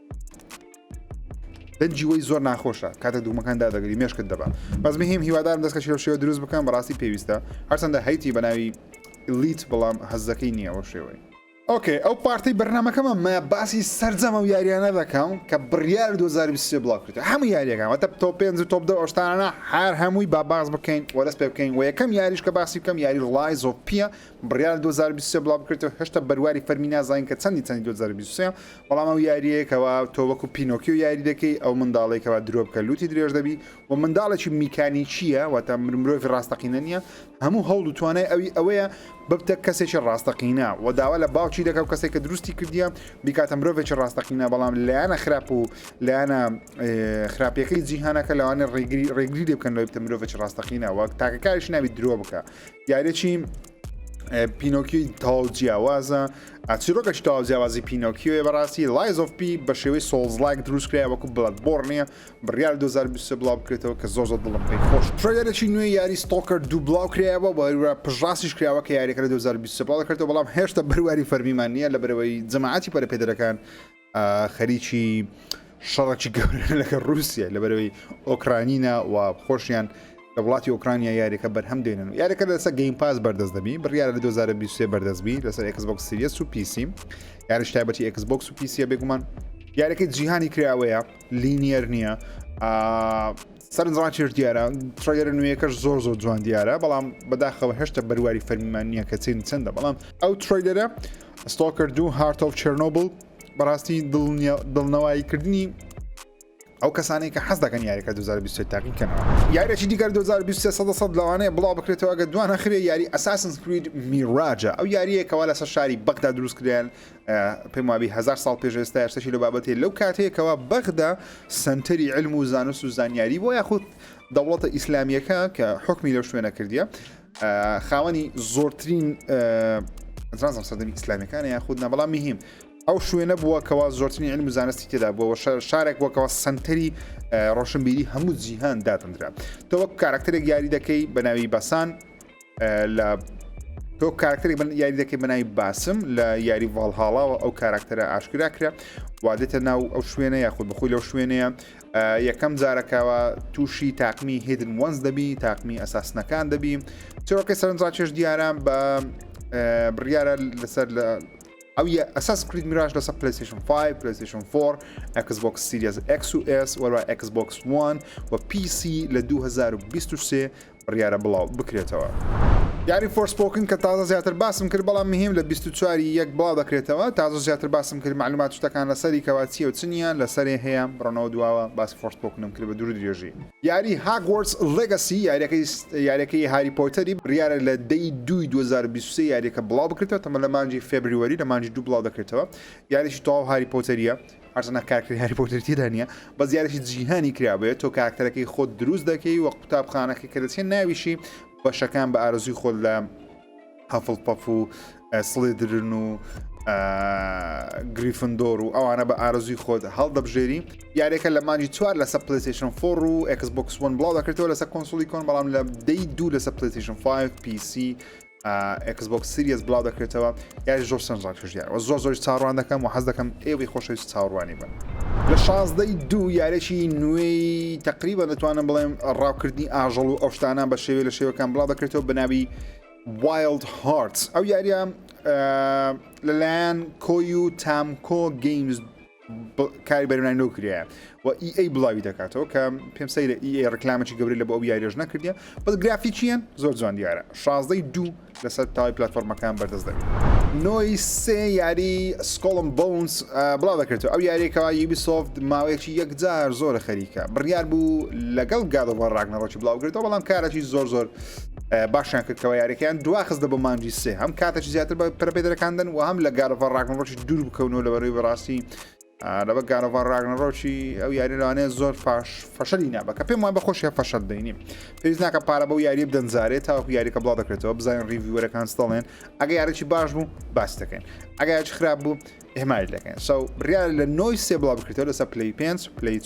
دەنجی وەی زۆر ناخۆشە کاتە دوومەکان دادەگری مێشکت دەبا بەس مهم هیوادارم دەستکە شێو شێوە دروست بکەم بەڕاستی پێویستە هەرچەندە هەیتی بەناوی لیت بەڵام هەزەکەی نییە ئەو شێوەی ئۆکەی ئەو پارتی بەرنمەکەمە مە باسی سرجەمە و یاریانە دەکەم کە بڕیار 2023 بڵاوکرێت هەموو یاریەکەمە تە تۆ پێ و تۆپ دە ئۆشتانە هەر هەمووی با باز بکەین وەرەس پێ بکەین و یەکەم یاریش کە باسی بکەم یاری ڕڵای زۆپیە بڕیار دوو هەزار و بیست و سێ بڵاوبکرێتەوە هێشتا بەرواری فەرمی نازانین کە چەندی چەندی دوو هەزار و بیست و سێ بەڵام ئەو یاریەیە کەوا تۆ وەکو پینۆکیۆ یاری دەکەی ئەو منداڵێکەوە درۆ بکە لوتی درێژ دەبی و منداڵێکی میکانیکیە واتە مرۆڤی ڕاستەقینە نییە هەموو هەوڵ و توانای ئەوی ئەوەیە ببتە کەسێکی ڕاستەقینە و داوا لە باوکی دەکە و کەسێک کە دروستی کردیە بیکاتە مرۆڤێکی ڕاستەقینە بەڵام لایەنە خراپ و لایەنە خراپیەکەی جیهانەکە لەوانێ ڕێگری ڕێگری لێ بکەن لەوەی بتە مرۆڤێکی ڕاستەقینە وەک تاکەکاریش ناوی درۆ بکە دیارێکی پینۆکی تاو جیاوازە ئەچیرۆکەش تاو جیاوازی پینۆکیۆێ بەڕاستی لایزۆفپی بە شێوەی سۆڵزلایک دروستکرای وەکو بڵات بۆڕ نییە بڕیار 2020 بڵاو بکرێتەوە کە زۆر زۆر دڵم پێی خۆش ترۆیەرێکی نوێ یاری ستۆکەر دوو بڵاو کرایەوە بەوە پژاسیش کراوە کە یاریەکە لە 2020 بڵاو دەکرێتەوە بەڵام هێشتا بەرواری فەرمیمان نییە لە بەرەوەی جەماعەتی پەرەپێدەرەکان خەریکی شەڕەکی گەورە لەگە رووسە لەبەرەوەی ئۆکرانینە و خۆشیان لە وڵاتی ئۆکرانیا یاریەکە بەرهەم دێنن و یاریەکە لەسە گەیم پاس بەردەست دەبی بڕیاە لە 2023 بەردەستبی لەسەر ئەکسبک سریس و پیسیم یاریش تایبەتی ئەکسبک و پیسیە بێگومان یاریەکەی جیهانی کراوەیە لینیەر نییە سەرنجڕاکێش دیارە تڕەگەرە نوێیەکەش زۆر زۆر جوان دیارە بەڵام بەداخەوە هێشتا بەرواری فەرمیمان نییە کە چین چەندە بەڵام ئەو تڕەیلەرە ستۆکرد دوو هارت ئۆف چرنۆبل بەڕاستی دڵنەواییکردنی ئەو کەسانی کە حەز دەکەن یاریەکە 2020 تاقی کەنەوە یاریی دیگەر 2023 لەوانەیە بڵاو بکرێتەوە گە دوانە خرێ یاری ئەساسن سکرید میڕاجە ئەو یاریەکەوا لەسەر شاری بەغدا دروستکرێن پێم وابی هزار ساڵ پێش ئێستا ئێستاشی لە بابەتێ لەو کاتەیە کەوا بەغدا سنتەری علم و زانست و زانیاری بۆ یاخود دەوڵەتە ئیسلامیەکە کە حکمی لەو شوێنە کردیە خاوەنی زۆرترین زانزم سەدەمی ئیسلامیەکانە یاخود نە بەڵام مهم ئەو شوێنە بووە کەوا زۆرترین علم و زانستی تێدا بووەوە شارێک بۆکەوە سنتەری ڕۆشنبیری هەموو جیهان دادەندرا تۆ وەک کارکتەرێک یاری دەکەی بە ناوی بەسان لە تۆ کارکتەری من یاری دەکەی بەناوی باسم لە یاری ڤالهاڵاوە ئەو کاراکتەرە ئاشکرا کرا وادێتە ناو ئەو شوێنە یاخود بخۆی لەو شوێنەیە یەکەم جارەکەەوە تووشی تاقمی هێدن وەنز دەبی تاقمی ئەساسنەکان دەبی چۆکە سەرنجڕاکێش دیارە بە بڕیاە لەسەر لە ئەو ئەساس کریت میراش لەسە پلیسیشن 5 پلیسیشن 4 ئەکسبک سیریز ئەکس و ئس وەرا ئەکسبک وان و پیسی لە 2023 بڕیارە بڵاو بکرێتەوە یاری فۆرسپۆکن کە تازە زیاتر باسم کرد بەڵام مهیم لە بیست و چوار ی یەک بڵاو دەکرێتەوە تازە زیاتر باسم کرد مەعلومات شتەکان لەسەری کەوا چیە و چ نیە لەسەرێ هەیە بڕۆنەوە دواوە باسی فۆرسپۆکنم کرد بە دوور و درێژی. یاری هاگوارتس ڵێگەسی یاریەکەی یاریەکەی هاری پۆتەری بڕیارە لە دە ی دوو ی دوو هەزار و بیست و سێ یاریەکە بڵاو بکرێتەوە تەمەن لە مانگی فێبریوەری لە مانگی دوو بڵاو دەکرێتەوە یاریەکی تەواو هاری پۆتەریە هەرچەندە کاراکتەری هاری پۆتەری تێدا نییە بەس دیارێکی جیهانی کرابێت تۆ کاراکتەرەکەی خۆت دروست دەکەی وە قوتابخانەکە کە دەچێت ناویشی بەشەکان بە ئارزوی خۆت لە هەفڵ پەف و سڵێدرن و گریفندۆر و ئەوانە بە ئارزوی خۆت هەڵدەبژێری یارێکە لە مانجی چوار لەسە پلیسیشن فۆڕ و ئەکسبکسون بڵاو دەکرێتەوە لەسە کۆنسولی کۆن بەڵام لە دەی دوو لەسە پلیسیشن 5 پیسی ئێکس بۆکس سریەس بڵاو دەکرێتەوە یاری زۆر سەرنجڕاک توشدیار وە زۆر زۆری چاڕوان دەکەم و حەز دەکەم ئێوەی خۆشەویست چاوەڕوانی بن لە شازدەی دوو یارێکی نوێی تقریبا دەتوانم بڵێم ڕاوکردنی ئاژەڵ و ئەوشتانە بە شێوێ لە شێوەکان بڵاو دەکرێتەوە بەناوی وایلد هارت ئەو یاریە لەلایەن کۆی و تامکۆ گەیمز کاری بەرنای نۆ کرایە و ئی ئەی بڵاوی دەکاتەوە کە پێم سەیرە ئی ئەی ڕکلامەی گەوری لە بۆ ئەو یاریش نەکردە بەس گرافیکیان زۆر جوان دیارە شازدەی دوو لەسەر تاوای پلتفۆرمەکان بەردەست دەبێت نۆی سێ یاری سکۆڵم بۆنس بڵا دەکرێتەوە ئەو یاریەکەەوە یوبیسۆفت ماوەیەکی یەکجار زۆرە خەریکە بڕیار بوو لەگەڵ گادەوە ڕاگنەڕۆکی بڵاوگرێتەوە بەڵام کارەی زۆر زۆر باشیان کردەوە یاریەکەیان دواخستە بۆ مانجی سێ هەم کاتەی زیاتر بە پرپێدەکاندن و هەم لە گارەوە ڕاگنڕۆکی دوور بکەونەوە لە بەروی بەڕاستی لەبە گارەڤار راگنەڕۆکی ئەو یاری لەوانەیە زۆر فاش فەشەلی نابەکە پێم وان بە خۆشیە فەشەل دەینیم پێویز ناکە پارە بەو یاری بدەنجارێت تاوەکو یاریکە بڵا دەکرێتەوە بزانین ریڤیوەرەکان ستڵێن ئەگە یارێکی باش بوو باس دەکەین ئەگەیاچ خراپ بوو ئێمای دەکەین سو بریا لە نۆی سێ بڵا بکرێتەوە لەسەر پلی پێنج پلیت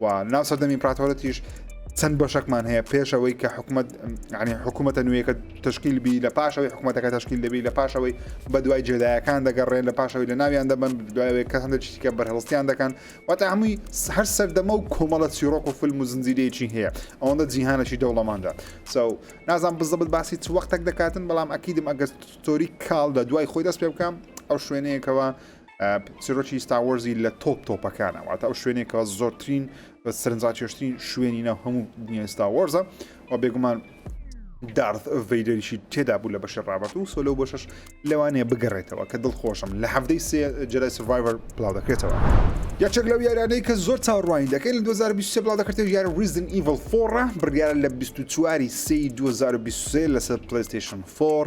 و ناو سەردەمی ئیمپراتۆرەتیش چەند بەشەکمان هەیە پێش ئەوەی کە حکوومەت عنی حکوومەتە نوێیەکە تشکیل بی لە پاشەوەی حکوومەتەکە تشکیل دەبی لە پاشەوەی بە دوای جێدایەکان دەگەڕێن لە پاشەوەی لە ناویان دەبن دوایەوەی کە هەندە چیکە بەرهڵستیان دەکەن واتە هەمووی هەر سەردەمە و کۆمەڵە چیرۆک و فیلم و زنجیرەیەکی هەیە ئەوەندە جیهانەکی دەوڵەماندا سو نازان بزەبت باسی چ وەختێک دەکاتن بەڵام ئەکیدم ئەگەر تۆری کاڵ لە دوای خۆی دەست پێ بکەم ئەو شوێنەیەکەوە چیرۆکی ستا وەرزی لە تۆپ تۆپەکانە واتە ئەو شوێنێکەوە زۆرترین سەرنجڕاکێشترین شوێنی ناو هەموو دنیای ستا وەرزە و بێگومان دارت ڤیدریشی تێدا بوو لە بەشە ڕابەت و سۆلو بەشش لەوانەیە بگەڕێتەوە کە دڵخۆشم لە هەفتەی سێ جەرای سڤایڤەر بڵاو دەکرێتەوە یاچێک لەو یارانەی کە زۆر چاڕوانی دەکەین لە 2023 بڵاو دەکرێت یار ریزن ئیڤڵ فۆڕە بڕیارە لە 24 سی 2023 لەسەر پلیستیشن فۆر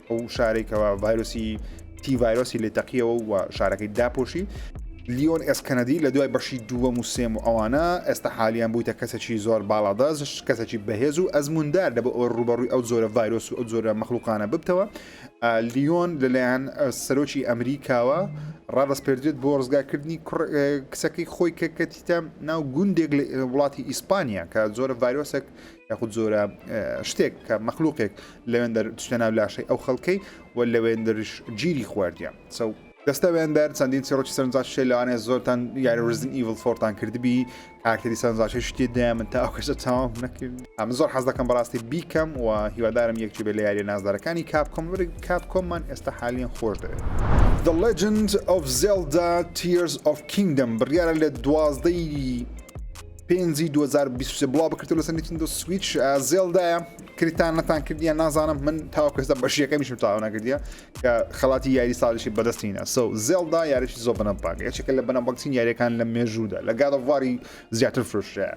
ئەو شارەی کەوا ڤایرۆسی تی ڤایرۆسی لێ تەقیەوە و شارەکەی داپۆشی لیۆن ئێسکەنەدی لە دوای بەشی دووەم و سێم و ئەوانە ئێستا حالیان بوویتە کەسێکی زۆر باڵادەست کەسێکی بەهێز و ئەزموندار لە بۆ ئەو ڕوبەڕووی ئەو زۆرە ڤایرۆس و ئەو زۆرە مەخلوقانە ببتەوە لیۆن لەلایەن سەرۆکی ئەمریکاوە ڕادەست پێدرێت بۆ ڕزگاکردنی کچەکەی خۆی کە کەتیتە ناو گوندێک لە وڵاتی ئیسپانیا کە زۆرە ڤایرۆسێک لە یاخود زۆرە شتێک کە مەخلوقێک لەوێندەر چتە ناو لاشەی ئەو خەڵکەی و لەوێندرش گیری خواردە سە دەستەوێندەر چەندین سێڕۆکی سەرنجاشێ لەوانێ زۆرتان یاری رزن ئیڤل فۆرتان کردبی کارتری سەرنجاشی شتی دەیان من تا ئەو کەشە چاوام نەکرد ئەم زۆر حەز دەکەم بەڕاستی بیکەم و هیوادارم یەکێ بێ لە یاریە نازدارەکانی کاپ کۆمبری کاپ کۆممان ئێستا حالیان خۆش دەوێت. The Legend of Zelda Tears of Kingdom بڕیارە لە دوازدەی پێنجی دوو هەزار و بیست و سێ بڵاو بکرێتەوە لەسەر نیتندۆ سویچ ئا، زێڵدایە کریتان نەتان کردیە نازانم من تاوەکو ئێستا بەشیەکەمیشم تاوا نەکردیە کە خەڵاتی یاری ساڵیشی بەدەستی هینا سو زێڵدا یاریشی زۆر بەنەباگ یەکێکە لە بەنەبەگترین یاریەکان لە مێژوودا لە گاد ئۆف واری زیاتر فرۆشرا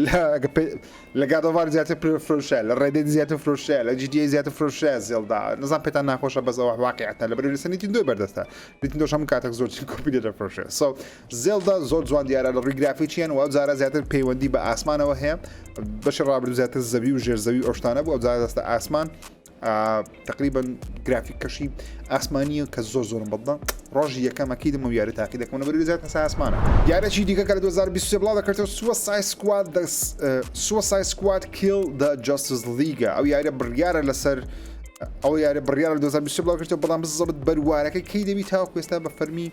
لە گە پێ- لە گاد ئۆف وار زیاتر پر- فرۆشرا لە ڕێدێد زیاتر فرۆشرا لە جی تی ئەی زیاتر فرۆشرا زێڵدا نەزان پێتان ناخۆشە بەس ئەوە واقیعەتە لەبەرئەوەی لەسەر نیتندۆی بەردەستە نیتندۆش هەموو کاتەک زۆرترین کۆپی لێ دەفرۆشێ سو زێڵدا زۆر جوان دیارە لە ڕووی گرافیکیان و ئەو جارە زیاتر پەیوەندی بە ئاسمانەوە هەیە بەشی ڕابردوو زیاتر زەوی و ژێرزەوی ئۆشتانە بوو ئەو جارە دەستە ئاسمان تقریبن گرافیک کەشی ئاسمانیە کە زۆر زۆرم بەڵدە ڕۆژی یەکەمەکی دەمە یاری تاقی دەکەمە بەری زیات هەسا ئاسمانە یارەی دیکە کە لە 2020 بڵاو دەکرێتەوە سووە سای سکوات سووە سای سکوات کیل دە جاستس لیگە ئەو یارە بڕیارە لەسەر ئەو یارە بڕیارە 2020 بڵاو کرێتەوە بەڵام بزەبت بەروارەکە کەی دەبی تاوکوێستا بە فەرمی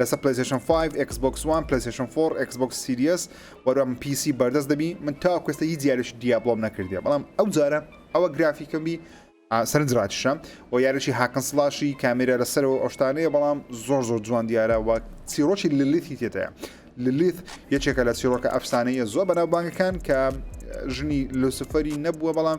لەسەر پلەیستەیشن فایڤ ئێکس بۆکس وان پلەیستەیشن فۆڕ ئێکس بۆکس سیریەس وەرە من پی سی بەردەست دەبی من تاوەکو ئێستا هیچ یاریش دیابلۆم نەکردیە بەڵام ئەو جارە ئەوە گرافیکم بی آ، سەرنج ڕاکیشە و یاریشی هاکن سڵاشی کامێرا لەسەرەوە ئەو شتانەیە بەڵام زۆر زۆر جوان دیارە و چیرۆکی للیتی تێدایە للیت یەکێکە لە چیرۆکە ئەفسانەیە زۆر بەناوبانگەکان کە ژنی لوسفەری نەبووە بەڵام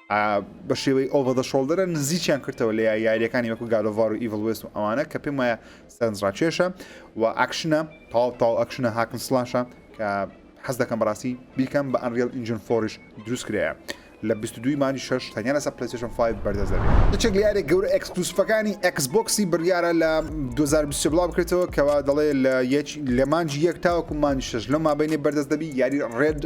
بە شێوەی ئۆڤە دە شۆڵدەرە نزیکیان کردەوە لە یاریەکانی وەکو گالۆڤار و ئیڤڵ وست و ئەوانە کە پێم وایە سەرنجڕاکێشە و ئاکشنە تاو تاو ئەکشنە هاکن سلاشە کە حەز دەکەم بەڕاستی بیکەم بە ئەنریل ئینجن فۆریش دروست کرەیە لە 22 مانی 6 تەنیا لەسەر پلیسشن 5 بەردەست دەبێت یەکێک لە یارێک گەورە ئەکسکلوسفەکانی ئەکسبکسی بڕیارە لە 2020 بڵاو بکرێتەوە کەوا دەڵێ لە یەک لە مانجی یەک تاوەکو مانجی شش لەو مابینێ بەردەست دەبی یاری ڕێد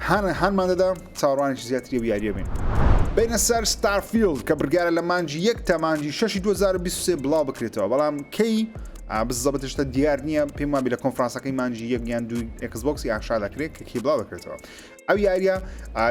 هانمان دەدا چاوەڕوانێکی زیاتری ئەو یاریە بین. بینە سەر ستارفیلد کە بڕیارە لە مانجی یەک تا مانجی شەشی 2023 بڵاو بکرێتەوە بەڵام کەی بزەبتشتە دیار نییە پێم وابی لە کۆنفرانسەکەی مانجی یەکیان دوو ئەکسبکسی یاخشا دەکرێت کە کی بڵاو دەکرێتەوە ئەو یاریە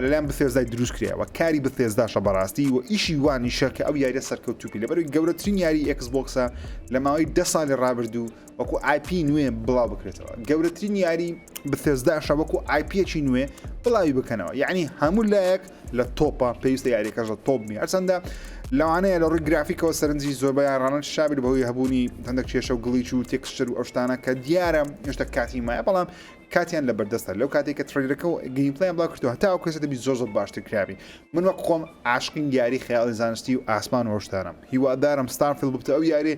لەلایەن بەفێزدای دروست کرێەوە کاری بەفێزداشە بەڕاستی و ئیشی وانیشە کە ئەو یاریە سەرکەوتوپی لەبەروی گەورەترین یاری ئەکسبکسە لە ماوەی ده سالی ڕابردوو وەکو ئایپی نوێ بڵاو بکرێتەوە گەورەترین یاری بثێزداشە وەکو ئایپیەکی نوێ بڵاوی بکەنەوە یعنی هەموو لایەک لە تۆپە پێویستە یاریەکەش لە تۆپ بی هەرچەندە لەوانەیە لە ڕووی گرافیکەوە سەرنجی زۆربیان ڕانن شابیر بەهۆی هەبوونی هەندێک کێشە و گڵیچ و تێکسچەر و ئەوشتانە کە دیارە هێشتا کاتی مایە بەڵام کاتیان لە بەردەستە لەو کاتێک کە ترلەکە و گەیمپلیان بڵاو کردو هەتا ئەو کەسە دەبی زۆر زۆر باشتر کراوی من وەک خۆم عاشقین دیاری خەیاڵی زانستی و ئاسمان و هۆشدارم هیوادارم ستارفیل ببتە ئەو یاری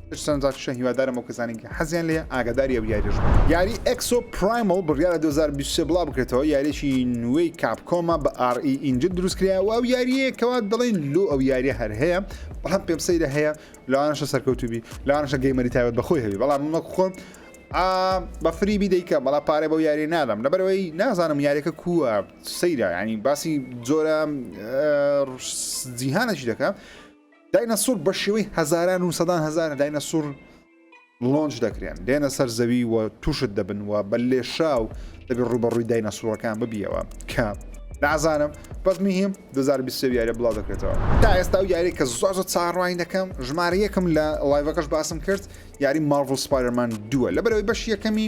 سەرنج ڕاکێشە هیوادارم ئەو کەسانی کە حەزیان لێ ئاگاداری ئەو یاریش بن یاری ئەکسۆ پرایمل بڕیارە 2023 بڵاو بکرێتەوە یاریێکی نوێی کاپکۆمە بە ئاڕئی e ئینجل دروستکراوە ئەو یاریە کەوا دەڵێن لۆ ئەو یاریە هەر هەیە بەڵام پێم سەیرە هەیە لەوانشە سەرکەوتوبی لەوانشە گەیمەری تاوێت بەخۆی هەبی بەڵام مەک خۆم بە فریبی دەیکە بەڵا پارێ بەو یاری نادەم لەبەرەوەی نازانم یاریەکە کووە سەیرە ینی باسی جۆرە جیهانەشی دەکە داینەسور بە شێوەی هەزاران و سەدان هەزارە داینەسور لۆنج دەکرێن دێنە سەر زەوی و تووشت دەبن و بە لێشاو دەبێت ڕوبەڕووی داینەسوڕەکان ببیەوە کە نازانم بەس مهم 2020 یارە بڵاو دەکرێتەوە تا ئێستا و یاری کە زۆر زۆر چاڕوانی دەکەم ژمارە یەکم لە لایڤەکەش باسم کرد یاری مارڤل سپایرمان دووە لەبەرەوەی بەش یەکەمی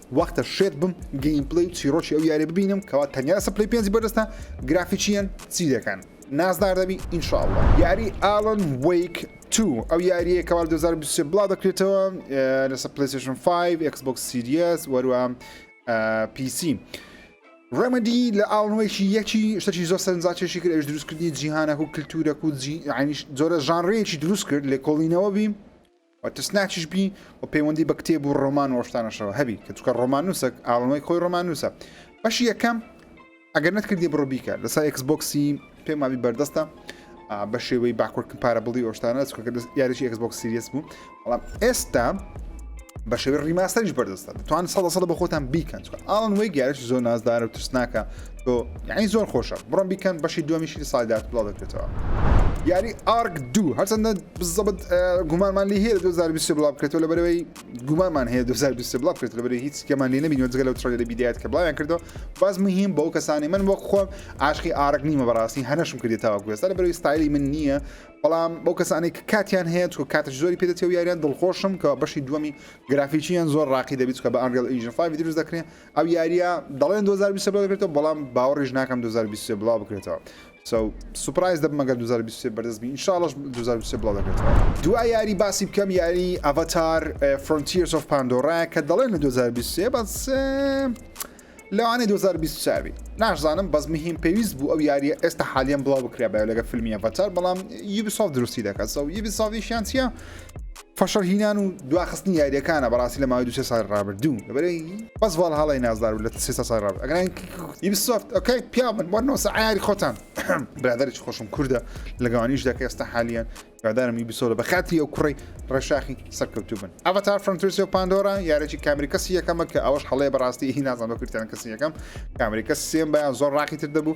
وەختە شێت بم گەیمپلەی و چیڕۆکی ئەو یارە ببینم کەوا تەنیا لەسە پلەی پێنجی بەردەستە گرافیکیەن چی دەکەن نازدار دەبی ئینشاءاللە یاری ئالن وەیک تو ئەو یاریە کەوا 2023 بڵاو دەکرێتەوە لەسە پلیسشن 5 ئەکس بۆکس سیریەس وەروە پیسی ڕێمەدی لە ئاڵنوەیەکی یەکی شتەی زۆر سەرنجاچێکی کرد ئەوش دروستکردنی جیهانەک و کللتورەک و جیعنیش زۆرە ژانڕەیەکی دروست کرد لە کۆڵینەوە بیم و ترسناکیش بی و پەیوەندی بە کتێب و ڕۆمان و ڕۆشتانەشەوە هەبی کە چکە ڕۆمانوسەک ئاڵنەوەی خۆی ڕۆمانوسە بەشی یەکەم ئەگەر نەت کردی بڕۆ بیکە لەسەر ئەکس بۆکسی پێم مابی بەردەستە بە شێوەی باکوردکن پارە بڵی ئۆشتانە چکە یاریی ئەکس بۆکس سریس بوو بەڵام ئێستا بە شێوی ڕیماسەریش بەردەستە توان سەدە سەدە بە خۆتان بیکەن ئاڵن وەی گەرش زۆر نازدارە و ترسناکە تۆ یعنی زۆر خۆشە بڕۆن بیکەن بەشی دووەمیشی لە ساڵی داهاتوو بڵاو دەکرێتەوە یاری ئارک دوو هەرچەندە بزەبت گومانمان لی هەیە لە 2020 بڵاو بکرێتەوە لە بەرەوەی گومانمان هەیە 2020 بڵاو بکرێت لە بەرەوەی هیچ کەمان لێ نەبینەوە جگە لەو تڕێلەری بیدایەت کە بڵاویان کردەوە باز مهم بەو کەسانی من وەک خۆم عاشقی ئارک نیمە بەڕاستی هەنەشم کردێت تاوە گوێستا لە بەرەوەی ستایلی من نییە بەڵام بەو کەسانی کە کاتیان هەیە چکە کاتش زۆری پێدەچێ و یاریان دڵخۆشم کە بەشی دووەمی گرافیکییان زۆر ڕاقی دەبیت کە بە ئەنگەڵ ئینجن 5 دروست دەکرێت ئەو یاریە دەڵێن 2020 بڵاو دەکرێتەوە بەڵام باوەڕیش ناکەم 2023 بڵاو بکرێتەوە سو سوپرایز دەبم مەگەر 2023 بەردەست بین انشاءالله 2023 بڵاو دەکرێتەوە دوا یاری باسی بکەم یاری ئەڤاتار فرۆنتیرس ئۆف پاندۆرا کە دەڵێن لە 2023 بەس لەوانەیە 2024 بی ناشزانم بەس مهم پێویست بوو ئەو یاریە ئێستا حالیان بڵاو بکرێ بە لەگە فیلمی ئەڤاتار بەڵام یوبیسۆف دروستی دەکات سو یوبیسۆفیشیان چیە فشەڵهینان و دواخستنی یاریەکانە بەڕاستی لە ماوەی دو سێ ساڵی ڕابردوو لەبەرەی بەس ڤاڵهاڵای نازدار بوو لە سێ ساڵی ڕابردوو ئەگەر یوبیسۆفت ئۆکەی پیاو بن وەرنەوەسە عەیاری خۆتان برادەرێکی خۆشم کوردە لە گەوانیش دەکە ئێستا حالیان هیوادارم یوبیسۆفت بە خاتری ئەو کوڕی ڕێشاخی سەرکەوتوو بن ئەڤەتار فرنترسی و پاندۆرا یارێکی کامری کەسی یەکەمە کە ئەوەش هەڵەیە بەڕاستی هی نازان بە کوردیان کەسی یەکەم کامری کەس سێم بەیان زۆر ڕاقی تر دەبوو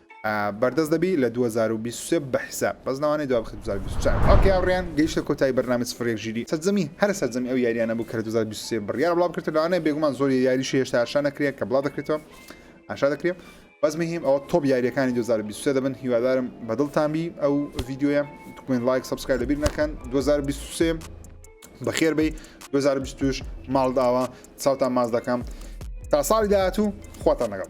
بەردەست دەبی لە دوو هەزار و بیست و سێ بە حیساب بەس ناوانەی دوا بخی دوو هەزار و بیست و چوار ئۆکەی هاوڕێیان گەیشتە کۆتایی بەرنامەی سفر یەک ژیری سەرجەمی هەرە سەرجەمی ئەو یاریانە بوو کە لە دوو هەزار و بیست و سێ بڕیارە بڵاو بکرێتەوە لەوانەیە بێگومان زۆر یاریشی هێشتا ئاشا نەکرێ کە بڵاو دەکرێتەوە ئاشا دەکرێ بەس مهم ئەوە تۆپ یاریەکانی 2023 دەبن هیوادارم بەدڵتان بی ئەو ڤیددیوە تکوێن لایک سبسکای لەبیر نەکەن 2023 بەخێر بی 2020 ماڵداوە چاوتان ماز دەکەم تا ساڵی داهاتوو خواتان لەگەڵ